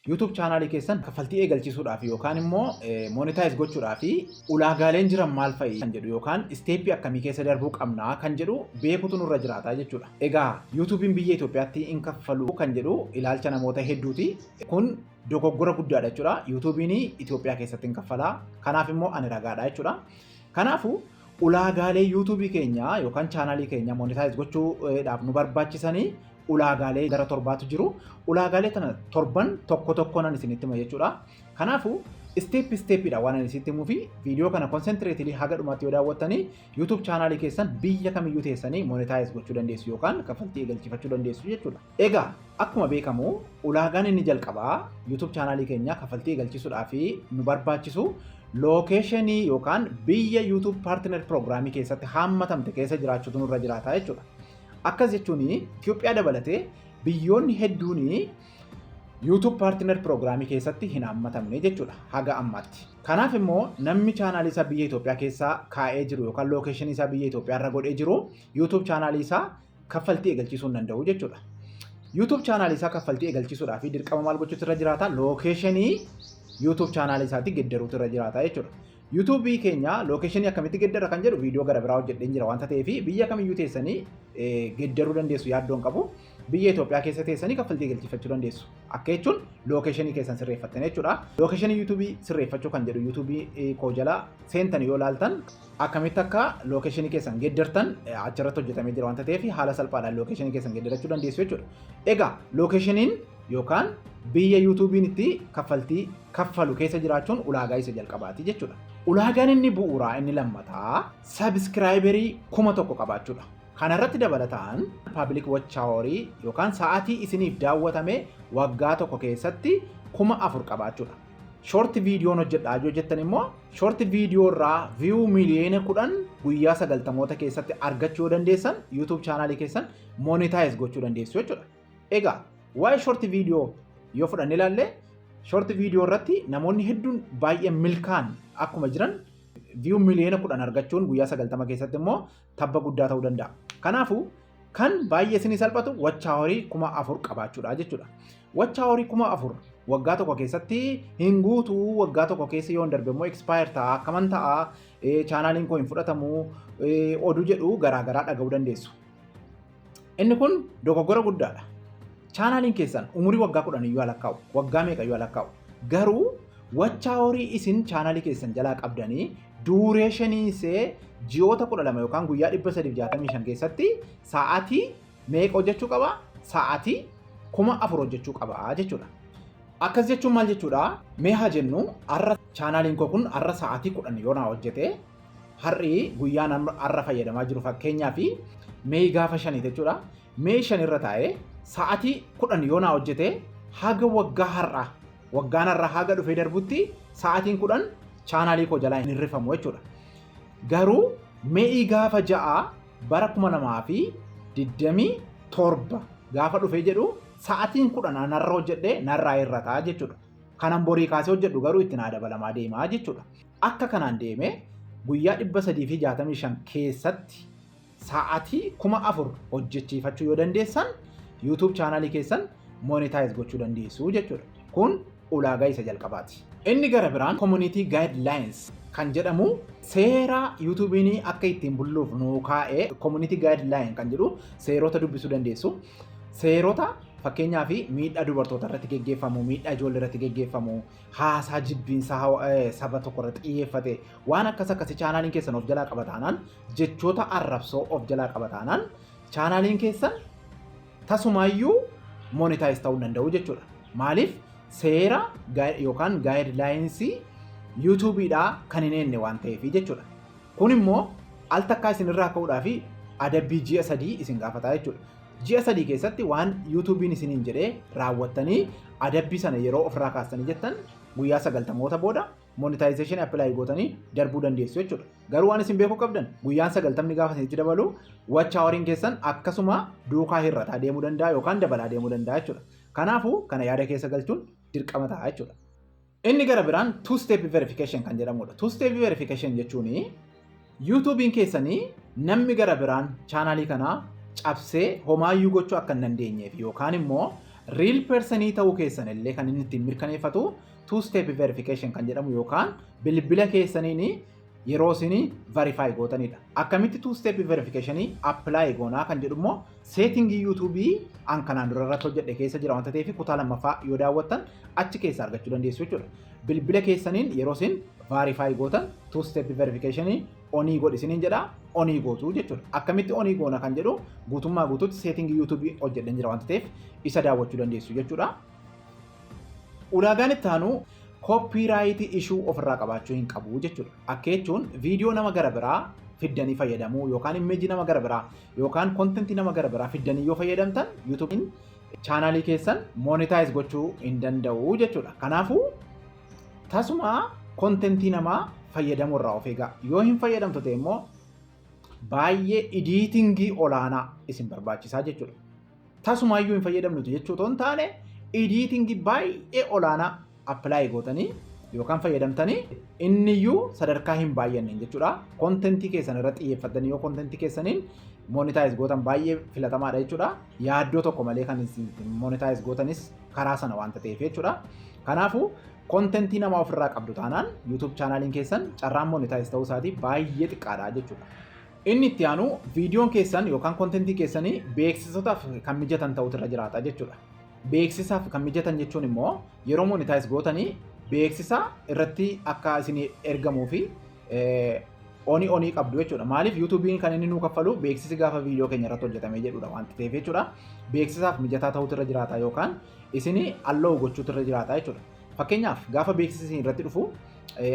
YouTube chaanaalii keessan kaffaltii eegalchiisuudhaaf yookaan immoo monetize gochuudhaaf ulaagaaleen jiran maal fa'i kan jedhu yookaan isteeppii akkamii keessa darbuu qabnaa kan jedhu beekutu nurra jiraata jechuudha. Egaa YouTube'n biyya Itoophiyaatti hin kaffalu kan jedhu ilaalcha namoota hedduuti. Kun dogoggora guddaadha jechuudha. YouTube'n Itoophiyaa keessatti hin kaffalaa. Kanaaf immoo ani ragaadha jechuudha. Kanaafuu ulaagaalee YouTube keenya yookaan chaanaalii keenya monetize gochuudhaaf nu barbaachisanii ulaagaalee gara torbaatu jiru. Ulaagaalee kana torban tokko tokkoon isinitti hima jechuudha. Kanaafuu isteeppi isteeppiidha waan isinitti himuu fi viidiyoo kana konsentiretiilii haga dhumaatti yoo daawwattanii YouTube chaanaalii keessan biyya kamiyyuu teessanii monetaayiz gochuu dandeessu yookaan kaffaltii eegalchifachuu dandeessu jechuudha. Egaa akkuma beekamu ulaagaan inni jalqabaa YouTube chaanaalii keenya kaffaltii eegalchisuudhaa fi nu barbaachisu lookeeshinii yookaan biyya YouTube paartinar piroogiraamii keessatti haammatamte keessa jiraachuutu nurra jiraata jechuudha. Akkas jechuun Itoophiyaa dabalatee biyyoonni hedduun YouTube Partner Program keessatti hin hammatamne jechuudha haga ammaatti. Kanaaf immoo namni chaanaalii isaa biyya Itoophiyaa keessaa kaa'ee jiru yookaan lookeeshinii isaa biyya Itoophiyaa irra godhee jiru YouTube chaanaalii isaa kaffaltii eegalchiisuu hin danda'u jechuudha. YouTube chaanaalii isaa kaffaltii eegalchiisuudhaa fi dirqama maal gochuutu irra jiraata? Lookeeshinii YouTube chaanaalii isaatii geddaruutu irra jiraata jechuudha. YouTube keenya location akkamitti geddara kan jedhu viidiyoo gara biraa hojjedheen jira wanta ta'eef biyya kamiyyuu teessanii geddaruu dandeessu yaaddoon qabu. Biyya Itoophiyaa keessa teessanii kaffaltii galchifachuu dandeessu. Akka jechuun lookeshinii keessan sirreeffattan jechuudha. Lookeshinii YouTube sirreeffachuu kan jedhu YouTube koo jala seentan yoo laaltan akkamitti akka lookeshinii keessan geddartan achirratti hojjetamee jira wanta ta'eef haala salphaadhaan lookeshinii keessan geddarachuu dandeessu jechuudha. Egaa lookeshiniin yookaan biyya YouTube'n itti kaffaltii kaffalu keessa jiraachuun ulaagaa isa jalqabaati jechuudha. Ulaagaan inni bu'uuraa inni lammataa sabiskiraayiberii kuma tokko qabaachuudha. Kana irratti dabalataan paabilik wachaaworii yookaan sa'aatii isiniif daawwatame waggaa tokko keessatti kuma afur qabaachuudha. Shorti viidiyoon hojjedhaa yoo jettan immoo shorti viidiyoo irraa viyuu miiliyoona kudhan guyyaa sagaltamoota keessatti argachuu yoo dandeessan YouTube chaanaalii keessan monetize gochuu dandeessu jechuudha. Egaa waa'ee short video yoo fudhanne ilaalle short video irratti namoonni hedduun baay'ee milkaan akkuma jiran viyuu miliyoona kudhan argachuun guyyaa sagaltama keessatti immoo tabba guddaa ta'uu danda'a. Kanaafuu kan baay'ee isinii salphatu wachaa horii kuma afur qabaachuudha jechuudha. Wachaa horii kuma afur waggaa tokko keessatti hin guutu waggaa tokko keessa yoo hin darbe immoo expire ta'a akkaman ta'a chaanaaliin koo hin fudhatamu oduu jedhu garaagaraa dhaga'uu dandeessu. Inni kun dogoggora guddaadha. Chaanaaliin keessan umurii waggaa kudhan iyyuu alakkaa'u, waggaa meeqa iyyuu alakkaa'u. Garuu wachaa horii isin chaanaalii keessan jalaa qabdanii duureeshinii isee ji'oota kudha lama yookaan guyyaa dhibba sadiif jaatamii shan keessatti sa'aatii meeqa hojjechuu qaba? Sa'aatii kuma afur hojjechuu qaba jechuudha. Akkas jechuun maal jechuudha? Mee haa jennu har'a chaanaaliin koo kun har'a sa'aatii kudhan yoo naa hojjete Har'i guyyaan an har'a fayyadamaa jiru fakkeenyaaf mee gaafa shanii jechuudha. Mee shan irra taa'ee sa'atii kudhan yoo naa hojjete haga waggaa har'aa waggaan har'aa haga dhufee darbutti sa'atiin kudhan chaanaalii koo jalaa hin hirrifamu jechuudha. Garuu mee'ii gaafa ja'a bara kuma lamaa fi digdamii torba gaafa dhufee jedhu sa'atiin kudhan an har'a hojjedhe narraa hir'ataa jechuudha. Kanan borii kaasee hojjedhu garuu itti naa dabalamaa deemaa jechuudha. Akka kanaan deemee guyyaa 365 keessatti sa'atii 4000 hojjechiifachuu yoo dandeessan YouTube chaanaalii keessan monetize gochuu dandeessu jechuudha. Kun ulaagaa isa jalqabaati. Inni gara biraan community guidelines kan jedhamu seera YouTube'n akka ittiin bulluuf nuu kaa'ee community guideline kan jedhu seerota dubbisuu dandeessu. Seerota fakkeenyaa fi miidhaa dubartoota irratti geggeeffamu, miidhaa ijoollee irratti geggeeffamu, haasaa jibbiinsaa hawa- eh, saba tokko irratti xiyyeeffate waan akkas akkasii chaanaaliin keessan of jalaa qaba taanaan jechoota arrabsoo of jalaa qaba taanaan chaanaaliin keessan tasumaayyuu monetaayiz ta'uu hin danda'u jechuudha. Maaliif seera gaa- yookaan gaayidlaayinsii yuutuubiidhaa kan hin eenne waan ta'eef jechuudha. Kun immoo al takkaa isin irraa ka'uudhaa fi adabbii ji'a sadii isin gaafataa jechuudha. Ji'a sadii keessatti waan yuutuubiin isiniin jedhee raawwattanii adabbii sana yeroo ofirraa kaastanii jettan guyyaa sagaltamoota booda monetization apply gootanii darbuu dandeessu jechuudha. Garuu waan isin beekuu qabdan guyyaan sagaltamni gaafa isinitti dabalu watch hawariin keessan akkasuma duukaa hir'ataa deemuu danda'a yookaan dabalaa deemuu danda'a jechuudha. Kanaafuu kana yaada keessa galchuun dirqama ta'a jechuudha. Inni gara biraan two step verification kan jedhamudha. Two step verification jechuun yuutuubiin keessanii namni gara biraan chaanaalii kanaa cabsee homaayyuu gochuu akka hin dandeenyeef yookaan immoo riil persanii ta'uu keessan illee kan inni ittiin mirkaneeffatu two step verification kan jedhamu yookaan bilbila keessaniin yeroo isin verify gootanidha. Akkamitti two step verification apply goonaa kan jedhu immoo setting YouTube an kanaan dura irratti hojjedhe keessa jira wanta ta'eef kutaa lammaffaa yoo daawwattan achi keessa argachuu dandeessu jechuudha. Bilbila keessaniin yeroo isin verify gootan two step verification onii godhi isiniin jedha onii gootu jechuudha. Akkamitti onii goona kan jedhu guutummaa guutuutti setting YouTube hojjedhen jira wanta ta'eef isa daawwachuu dandeessu jechuudha. Ulaagaan itti aanu kooppiiraayitii ishuu ofirraa qabaachuu hin qabu jechuudha. Akka jechuun viidiyoo nama gara biraa fiddanii fayyadamuu yookaan immeejii nama gara biraa yookaan kontentii nama gara biraa fiddanii yoo fayyadamtan yuutuubiin chaanaalii keessan moonitaayiz gochuu hin danda'u jechuudha. Kanaafuu tasuma kontentii namaa fayyadamuu irraa of eegaa. Yoo hin fayyadamtu ta'e immoo baay'ee idiitingii olaanaa isin barbaachisaa jechuudha. tasumaayyuu hin fayyadamnu jechuu otoo hin taane idiitingi baay'ee olaanaa appilaayi gootanii yookaan fayyadamtanii inniyyuu sadarkaa hin baay'anneen jechuudha. Kontentii keessan irra xiyyeeffattanii yoo kontentii keessaniin monitaayiz gootan baay'ee filatamaadha jechuudha. Yaaddoo tokko malee kan isin monitaayiz gootanis karaa sana waanta ta'eef jechuudha. Kanaafuu kontentii nama ofirraa qabdu taanaan YouTube chaanaaliin keessan carraan monitaayiz ta'uu isaatii baay'ee xiqqaadha jechuudha. Inni itti aanu viidiyoon keessan yookaan kontentii keessanii beeksisotaaf kan mijatan ta'utu irra jiraata jechuudha. Beeksisaaf kan mijatan jechuun immoo yeroo monitaayiz gootanii beeksisa irratti akka isin ergamuu fi onii onii qabdu jechuudha. Maaliif yuutuubiin kan inni nuu kaffalu beeksisi gaafa viidiyoo keenya irratti hojjetame jedhudha wanti ta'eef jechuudha. Beeksisaaf mijataa ta'utu irra jiraata yookaan isin alloo gochuutu irra jiraata jechuudha. Fakkeenyaaf gaafa beeksisi isin irratti dhufu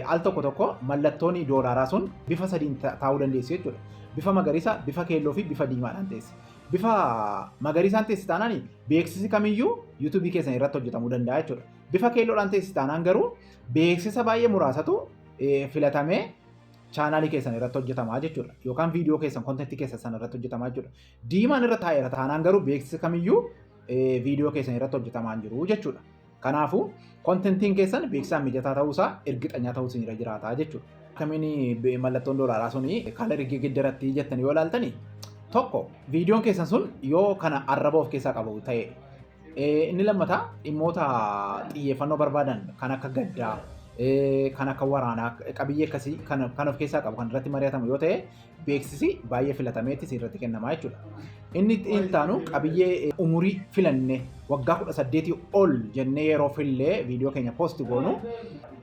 al tokko tokko mallattoon doolaaraa sun bifa sadiin taa'uu dandeessu jechuudha. Bifa magariisa, bifa keelloo fi bifa diimaadhaan teessi. Bifa magariisaan teessi taanaan beeksisi kamiyyuu yuutuubii keessan irratti hojjetamuu danda'a jechuudha. Bifa keelloodhaan teessi taanaan garuu beeksisa baay'ee muraasatu filatamee chaanaalii keessan irratti hojjetamaa jechuudha. Yookaan viidiyoo keessan kontentii keessan sana irratti hojjetamaa jechuudha. Diimaan irra taa'eera taanaan garuu beeksisa kamiyyuu viidiyoo keessan irratti hojjetamaa hin jiru jechuudha. Kanaafuu kontentiin keessan beeksisaan mijataa ta'uusaa ergixanyaa ta'uu isinirra jiraata jechuudha. Akkamiin mallattoon doolaaraa sun kaalarii geggeeddaratti jettan yoo ilaaltani tokko viidiyoon keessan sun yoo kana arraba of keessaa qabu ta'e inni lammataa dhimmoota xiyyeeffannoo barbaadan kan akka gaddaa kan akka waraanaa qabiyyee akkasii kan of keessaa qabu kan irratti mari'atamu yoo ta'e beeksisi baay'ee filatameetti sirratti kennama jechuudha. Inni intaanu qabiyyee umurii filanne waggaa 18 ol jennee yeroo fillee viidiyoo keenya poosti goonu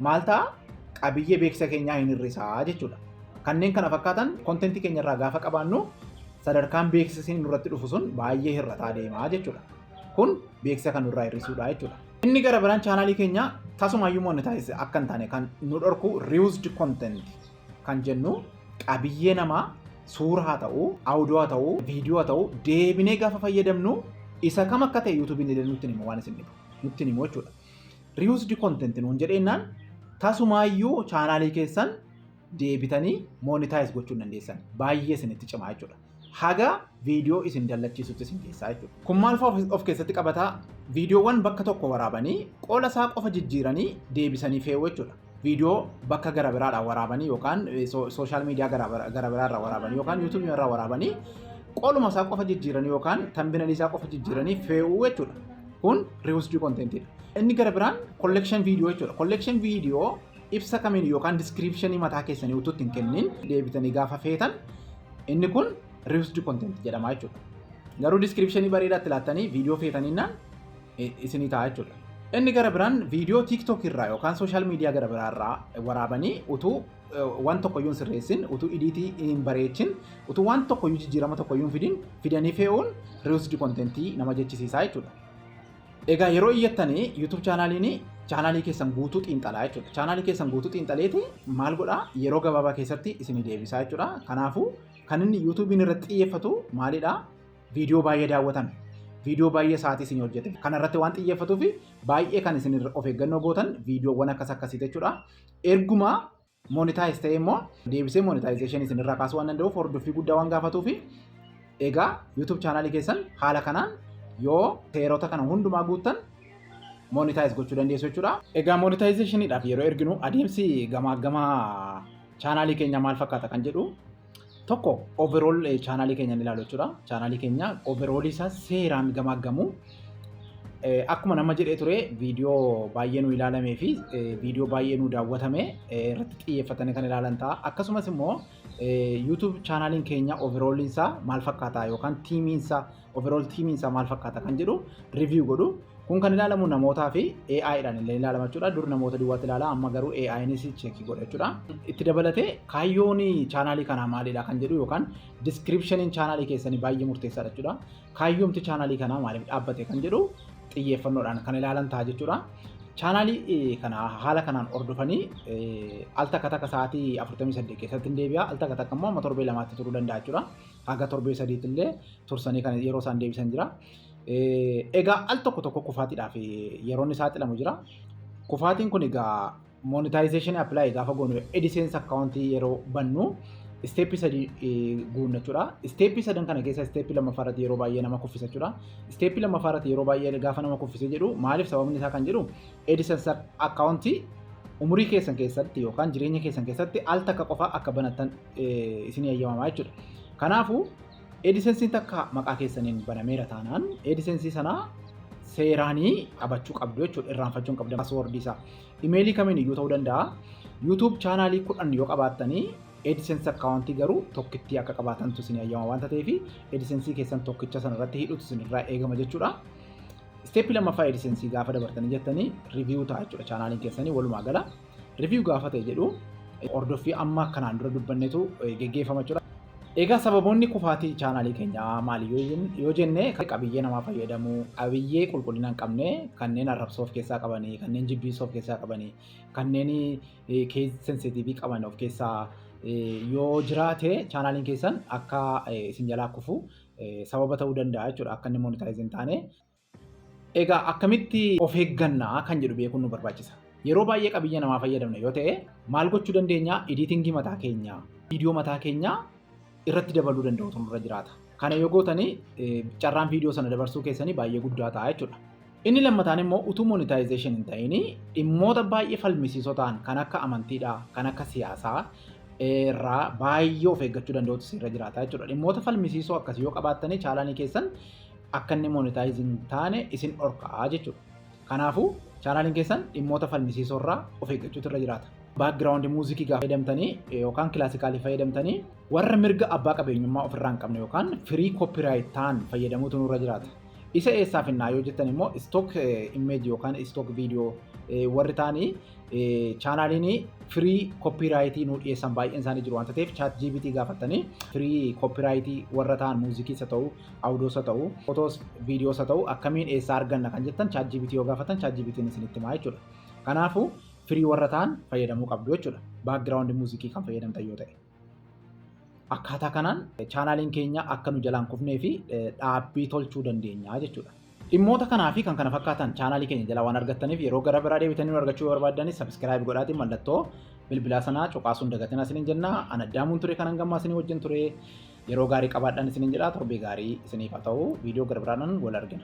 maal ta'a qabiyyee beeksisa keenyaa hin hir'isaa jechuudha. Kanneen kana fakkaatan kontentii keenya irraa gaafa qabaannu sadarkaan beeksisni nurratti dhufu sun baay'ee hir'ataa deemaa jechuudha. Kun beeksisa kan nurraa hir'isuudha jechuudha. Inni gara biraan chaanaalii keenya tasumayyuu monetaayiz akka hin taane kan nu dhorku reused content kan jennu qabiyyee namaa suura haa ta'u, audio haa ta'u, viidiyoo haa ta'u deebinee gaafa fayyadamnu isa kam akka ta'e yuutuubiin illee nutti hima waan isin dhibu nutti himu jechuudha. Reused content nuun jedheennaan tasumaayyuu chaanaalii keessan deebitanii monetize gochuu hin dandeessan baay'ee isinitti cimaa jechuudha. haga viidiyoo isin dallachiisutti isin keessaa jechuudha. Kun maal fa'aa of keessatti qabataa? Viidiyoowwan bakka tokko waraabanii qoola isaa qofa jijjiiranii deebisanii fe'uu jechuudha. Viidiyoo bakka gara biraadhaa waraabanii yookaan sooshaal miidiyaa gara biraarraa waraabanii yookaan yuutuubii irraa waraabanii qooluma isaa qofa jijjiiranii yookaan tambinalii isaa qofa jijjiiranii fe'uu jechuudha. Kun riwusdii kontentiidha. Inni gara biraan kollekshin viidiyoo jechuudha. Kollekshin viidiyoo ibsa kamiin yookaan diskiriipshinii mataa keessanii utuu ittiin kennin deebitanii gaafa feetan inni kun riusdi kontent jedhama jechuudha. Garuu diskiriipshinii bareedaatti laattanii viidiyoo feetaninnaan isinii ta'a jechuudha. Inni gara biraan viidiyoo TikTok irraa yookaan sooshaal miidiyaa gara biraa irraa waraabanii utuu waan tokkoyyuu hin sirreessin, utuu idiitii hin bareechin, utuu waan tokkoyyuu jijjiirama tokkoyyuu hin fidin fidanii fe'uun riusdi kontentii nama jechisiisaa jechuudha. Egaa yeroo iyyattanii YouTube chaanaaliin chaanaalii keessan guutuu xiinxalaa jechuudha. Chaanaalii keessan guutuu xiinxaleeti maal godhaa yeroo gabaabaa keessatti isinii deebisaa jechuudha. Kanaafuu kan inni YouTube'n irratti xiyyeeffatu maalidhaa? Viidiyoo baay'ee daawwatan. Viidiyoo baay'ee sa'aatii isin hojjetan. Kana irratti waan xiyyeeffatuuf baay'ee kan isin of eeggannoo gootan viidiyoowwan akkas akkasii jechuudha. Ergumaa monetize ta'ee immoo deebisee monetization isin irraa kaasuu waan danda'uuf hordoffii guddaa waan gaafatuu fi egaa YouTube chaanaalii keessan haala kanaan yoo seerota kana hundumaa guuttan monetize gochuu dandeessu jechuudha. Egaa monetizationidhaaf yeroo erginu adeemsi gamaaggamaa chaanaalii keenya maal fakkaata kan jedhu Tokko overall chaanaalii keenya ni ilaalu jechuudha. Chaanaalii keenya overall isaa seeraan gamaaggamu. Akkuma nama jedhee ture viidiyoo baay'ee nu ilaalamee fi viidiyoo baay'ee nu daawwatame irratti xiyyeeffatanii kan ilaalan ta'a. Akkasumas immoo YouTube chaanaaliin keenya overall isaa maal fakkaataa yookaan tiimiin isaa overall tiimiin isaa maal fakkaata kan jedhu review godhu. Kun kan ilaalamu namootaa fi AI dhaan illee ilaalama jechuudha. Dur namoota duwwaatti ilaala amma garuu AI'nis cheekii godha jechuudha. Itti dabalatee kaayyoon chaanaalii kanaa maalidha kan jedhu yookaan diskiripshiniin chaanaalii keessanii baay'ee murteessaadha jechuudha. Kaayyoomti chaanaalii kanaa maaliif dhaabbate kan jedhu xiyyeeffannoodhaan kan ilaalan ta'a jechuudha. Chaanaalii kana haala kanaan hordofanii al takka takka sa'aatii 48 keessatti hin deebi'a al takka takka immoo amma torbee lamaatti turuu danda'a jechuudha. Haga torbee sadiitillee tursanii kan yeroo isaan deebisan jira. Egaa al tokko tokko kufaatiidhaaf yeroon isaa xilamu jira. Kufaatiin kun egaa monetization apply gaafa goonu AdSense account yeroo bannu isteeppii sadii guunna jechuudha. Isteeppii sadan kana keessa isteeppii lammaffaa irratti yeroo baay'ee nama kuffisa jechuudha. Isteeppii lammaffaa irratti yeroo baay'ee gaafa nama kuffisee jedhu maaliif sababni isaa kan jedhu AdSense account umurii keessan keessatti yookaan jireenya keessan keessatti al takka qofa akka banattan isin eeyyamamaa jechuudha. Kanaafuu eedisensiin takka maqaa keessaniin banameera taanaan eedisensii sana seeraanii qabachuu qabdu jechuudha irraanfachuu hin qabdan paaswoordii isaa. Imeelii kamiin iyyuu ta'uu danda'a. YouTube chaanaalii kudhan yoo qabaattanii eedisensi akkaawuntii garuu tokkittii akka qabaatantu isin eeyyama waan ta'eef eedisensii keessan tokkicha sana irratti hidhuutu isin irraa eegama jechuudha. Isteeppii lammaffaa eedisensii gaafa dabartanii jettanii riiviyuu ta'a jechuudha chaanaaliin keessanii walumaa gala. Review gaafa ta'e jedhu hordoffii amma kanaan dura dubbannetu geggeeffama jechuudha. Egaa sababoonni kufaatii chaanaalii keenyaa maali yoo jenne qabiyyee namaa fayyadamuu, qabiyyee qulqullina hin qabne kanneen arrabsoo of keessaa qabanii, kanneen jibbiisoo of keessaa qabanii, kanneen kees sensitiivii qaban of keessaa yoo jiraate chaanaaliin keessan akka isin jalaa kufu sababa ta'uu danda'a jechuudha akka inni monitaayiz hin taane. Egaa akkamitti of eegganna kan jedhu beekuun nu barbaachisa. Yeroo baay'ee qabiyyee namaa fayyadamna yoo ta'e maal gochuu dandeenya? Ediitingii mataa keenyaa, viidiyoo mataa keenyaa irratti dabaluu danda'utu nurra jiraata. Kana yoo gootanii carraan viidiyoo sana dabarsuu keessanii baay'ee guddaa ta'a jechuudha. Inni lammataan immoo utuu monetization hin ta'in dhimmoota baay'ee falmisiisoo ta'an kan akka amantiidhaa, kan akka siyaasaa irraa baay'ee of eeggachuu danda'utu sirra jiraata jechuudha. Dhimmoota falmisiisoo akkasii yoo qabaattanii chaalanii keessan akka inni monetize hin taane isin dhorkaa jechuudha. Kanaafuu chaanaaliin keessan dhimmoota falmisiisoo irraa of eeggachuutu irra jiraata. Background muuzikii gaafa fayyadamtanii yookaan kilaasikaalii fayyadamtanii warra mirga abbaa qabeenyummaa ofirraa hin qabne yookaan firii copyright ta'an fayyadamuutu nurra jiraata. Isa eessaaf innaa yoo jettan immoo stock image yookaan stock video warri ta'anii chaanaaliin firii koppiraayitii nu dhiyeessan baay'een isaanii jiru waan ta'eef chaat GPT gaafattanii firii koppiraayitii warra ta'an muuzikii isa ta'uu audios haa ta'u, photos, videos haa ta'u akkamiin eessaa arganna kan jettan ChatGPT yoo gaafatan ChatGPT'n isinitti himaa jechuudha. Kanaafuu firii warra ta'an fayyadamuu qabdu jechuudha. Background muuziqii kan fayyadamtan yoo ta'e. Akkaataa kanaan chaanaaliin keenya akka nu jalaan kufnee fi dhaabbii tolchuu dandeenya jechuudha. Dhimmoota kanaa fi kan kana fakkaatan chaanaalii keenya jalaa waan argattaniif yeroo gara biraa deebitanii nu argachuu yoo barbaaddanis sabiskiraayib godhaatii mallattoo bilbilaa sanaa cuqaasuun dagatinaa isiniin jenna. An addaamuun ture kanan gammaa isinii wajjin ture yeroo gaarii qabaadhaan isiniin jedha torbee gaarii isiniif haa ta'u viidiyoo gara biraadhaan wal argina.